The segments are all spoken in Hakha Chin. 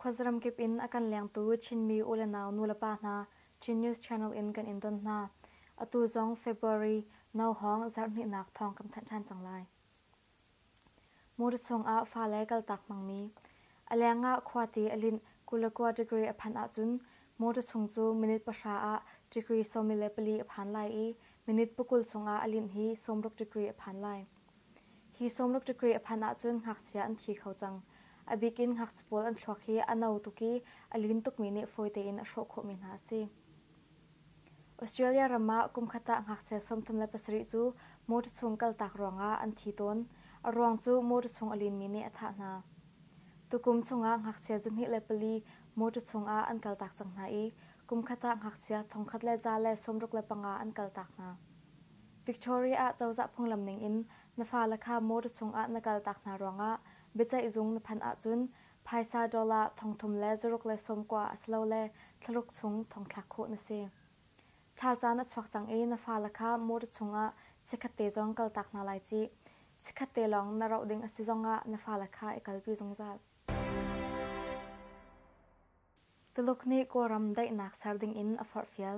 Khuazram kip in a kan lengtu Chinmi u le nau nulepa hna Chin News Channel in kan in don hna. Atu zong February no hawng zarhhnihnak thawng kan thanh ṭhan cang lai. Mur chungah fale kaltak hmangmi. A leng ah khuate a linh kulakua degree a phan ahcun mur chung cu minute pahra ah degree sawmi le pali a phan lai i minute pakul chungah a linh hi sawmruk degree a phan lai. Hi sawmruk degree a phan ahcun ngakchia an thi kho cang. A bik in ngakchipawl an thluak hi a no tuk i a lin tukmi nih fawi tein a hrawh khawhmi hna a si. Australia ram ah kumkhat ah ngakchia sawmthum le pasarih cu motor chung kaltak ruangah an thi tawn. A ruang cu motor chung a linmi nih a thah hna. Tukum chungah ngakchia zahnih le pali motor chungah an kaltak cang hna i kumkhat ah ngakchia thongkhat le za le sawmruk le panga an kaltak hna. Victoria ah cozah phunglam ningin na fale kha motor chungah na kaltak hna ruangah biaceih zung na phanh ahcun Phaisa dollar thongthum le zaruk le sawmkua asilole thlaruk chung thongthlak khawh na si. Ṭhal caan a chuak cang i na fale kha motor chungah chikkhatte zong kaltak hna lai cih. Chikkhatte lawng na rauh ding a si zongah na fale kha i kalpi zungzal. Tuluk nih Kawlram daihnak ser dingin a forhfial.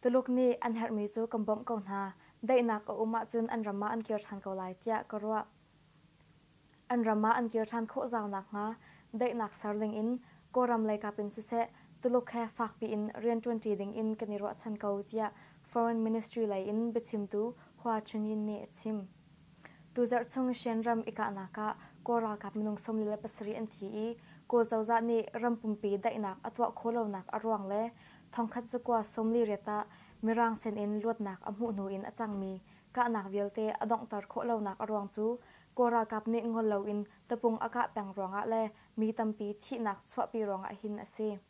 Tuluk nih an herhmi cu kan bawmh ko hna. Daihnak a um ahcun an ram ah an kir ṭhan ko lai tiah ka ruah. An ram ah an kir ṭhan khawh zau nakhnga daihnak ser dingin Kawlram leikap in siseh Tuluk he fakpi in rianṭuanṭi dingin kan i ruahchan ko tiah Foreign Ministry lei in biachimtu Hua Chunyin nih a chim. Tuzarh chung Shan ram i kahnak ah Kawl ralkap minung sawmli le pasarih an thi i Kawl cozah nih ram pumpi daihnak a tuah khawhlonak a ruang le thongkhat zakua sawmli riat ah Mirang sen in luatnak a hmuh hnu in a cangmi kahnak vialte a donghter khawhlonak a ruang cu Kawl ralkap nih ngol loin tapung a kah peng ruangah le mi tampi thihnak chuahpi ruangah hin a si.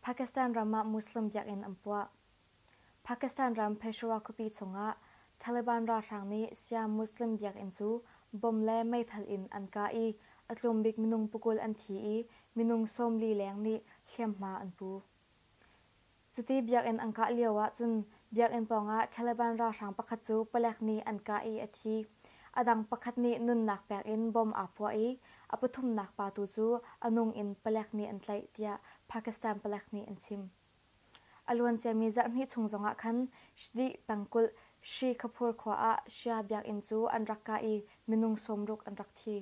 Pakistan ram ah Muslim biakinn an puah. Pakistan ram Peshawar khuapi chungah Taliban ralhrang nih Siam Muslim biakinn cu bom le meithal in an kah i a tlumbik minung pukul an thi i minung sawmli leng nih hliamhma an pu. Cuti biakinn an kah lio ah cun Biakinn pawngah Taliban ralhrang pakhat cu palek nih an kah i a thi. A dang pakhat nih nunnak pek in bom aa puah i a pathumnak pa tu cu a nung in palek nih an tlaih, tiah Pakistan palek nih an chim. A luanciami zarhhnih chung zongah khan Shdi pengkulh Shi Kapoor khua ah Shia biakinn cu an rak kah i minung sawm ruk an rak thi.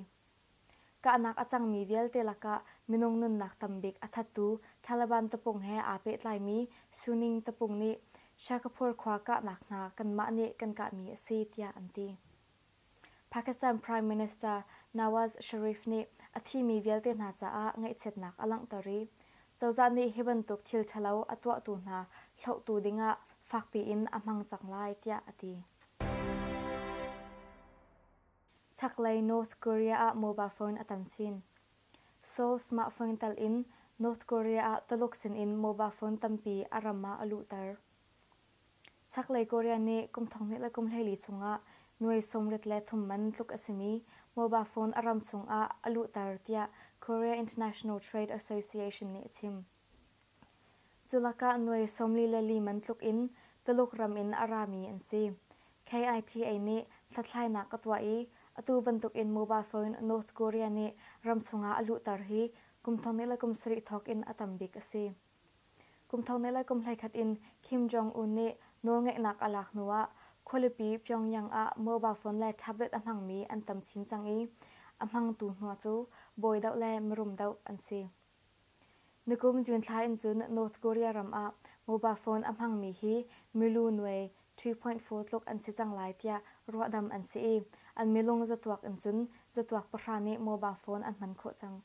Kahnak a cangmi vialte lakah minung nunnak tam bik a thattu Taliban tapung he aa pehtlaimi Suning tapung nih Shahkapur khua kahnak hna kanmah nih kan kahmi a si tiah an ti. Pakistan Prime Minister Nawaz Sharif nih a thimi vialte hna caah ngaihchiatnak a langhter i cozah nih hi bantuk thil ṭhalo a tuahtu hna hlohtu dingah fakpi in a hmang cang lai tiah a ti. Chaklei North Korea ah mobile phone a tam chin. Seoul smartphone telh in North Korea ah Tuluk sinin mobile phone tampi a ram ah a luhter. Chaklei Korea nih kum thonghnih le kum hleili chungah nuai sawmrit le thum man tluk a simi mobile phone a ram chungah a luhter tiah Korea International Trade Association nih a chim. Culakah nuai sawmli le li man tluk in Tuluk ram in a rami an si. KITA nih hlathlainak ka tuah i atu bantukin mobile phone North Korea nih ram chungah a luhter hi kum thong ni le kum sarih thawk in a tam bik a si. Kum thong ni le kum hleikhat in Kim Jong-un nih nawlngeihnak a lak hnuah khualipi Pyongyang ah mobile phone le tablet a hmangmi an tam chin cang i a hmangtu hna cu bawi deuh le mirum deuh an si. Nikum June thla in cun North Korea ram ah mobile phone a hmangmi hi milu nuai 3.4 tluk an si cang lai tiah ruahdamh an si i an milung zatuak in cun zatuak pahra nih mobile phone an hman khawh cang.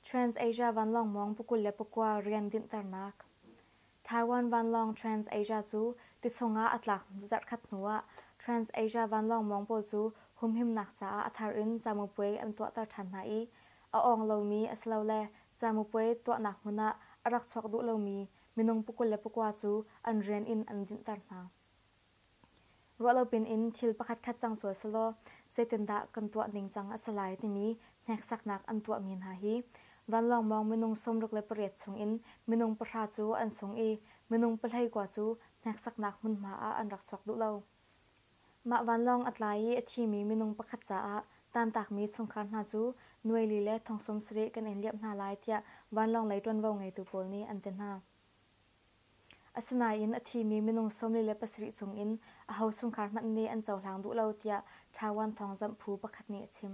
Trans-Asia vanlawng mawng pukul le pakua rian dinhternak Taiwan vanlawng Trans-Asia cu tichung ah a tlak zarhkhat hnu ah Trans-Asia vanlawng mawng pawl cu humhimnak caah a thar in camupuai an tuahter ṭhan hna i a awng lomi asilole camupuai tuahnak hmun ah a rak chuak duh lomi minung pukul le pukua cu an rian in an dinhter hna. Ruah lo pinin thil pakhatkhat cang cual selaw zeitindah kan tuah ningcang a si lai timi hneksaknak an tuahmi hna hi vanlawng mawng minung sawmruk le pariat chungin minung pahra cu an sung i minung pahlei kua cu hneksaknak hmunhma ah an rak chuak duh lo. Mah vanlawng a tlai i a thimi minung pakhat caah tantakmi chungkhar hna cu nuaili le thong sum sarih kan in liamh hna lai tiah vanlawng lei ṭuanvo ngeitu pawl nih an ti hna. Asinain a thimi minung sawmli le pasarih chung in aho chungkhar hmanh nih an cohlang duh lo tiah Taiwan thawngzamh phu pakhat nih a chim.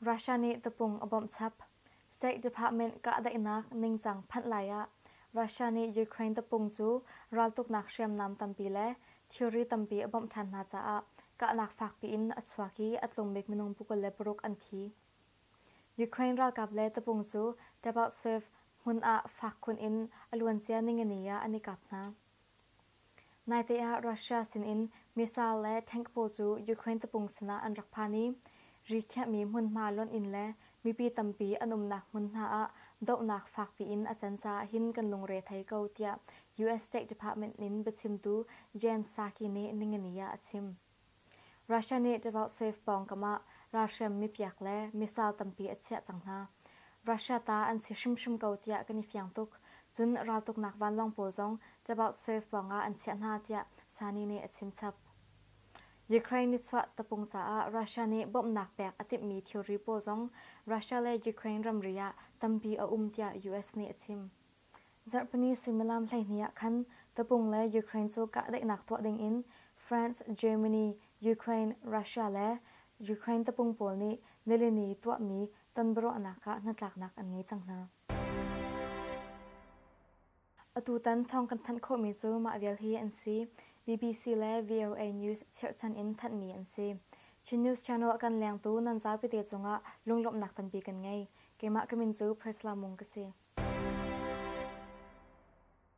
Russia nih tapung a bawmh chap. State Department kahdaihnak ningcang phanh lai ah Russia nih Ukraine tapung cu raltuknak hriamnam tampi le thilri tampi a bawmh ṭhan hna caah kahnak fakpi in a chuak i a tlumbik minung pukul le paruk an thi. Ukraine ralkap le tapung cu Tabaksv hmun ah fak khun in a luancia ningani ah an i kap hna. Naite ah Russia sinin missile le tank pawl cu Ukraine tapung sinah an rak phan i ri khiahmi hmunhma lonh in le mipi tampi an umnak hmunhma ah dohnak fakpi in a can caah hin kan lungre thei ko tiah US State Department in biachimtu Jen Psaki nih ningani ah a chim. Russia nih Devoltsev pawngkam ah ralhriam mipiak le missile tampi a chiah cang hna. Russia ta an si hrimhrim ko tiah kan i fiang tuk. Cun raltuknak vanlawng pawl zong Devoltsev pawngah an chiah hna tiah Sani nih a chimchap. Ukraine nichuah tapung caah Russia nih bawmhnak pek a timhmi thilri pawl zong Russia le Ukraine ramri ah tampi a um tiah US nih a chim. Zarhpini suimilam hleihnih ah khan tapung le Ukraine cu kahdaihnak tuah dingin France, Germany, Ukraine, Russia le Ukraine tapung pawl nih nilini tuahmi tonbiaruahnak ah hnatlaknak an ngei cang hna. Atutan thawng kan thanh khawhmi cu mah vial hi an si. BBC le VOA News chirhchan in thanhmi an si. Chin News Channel kan lengtu nan zaupite cungah lunglawmhnak tampi kan ngei. Keimah ka min cu Prisla Mung ka si.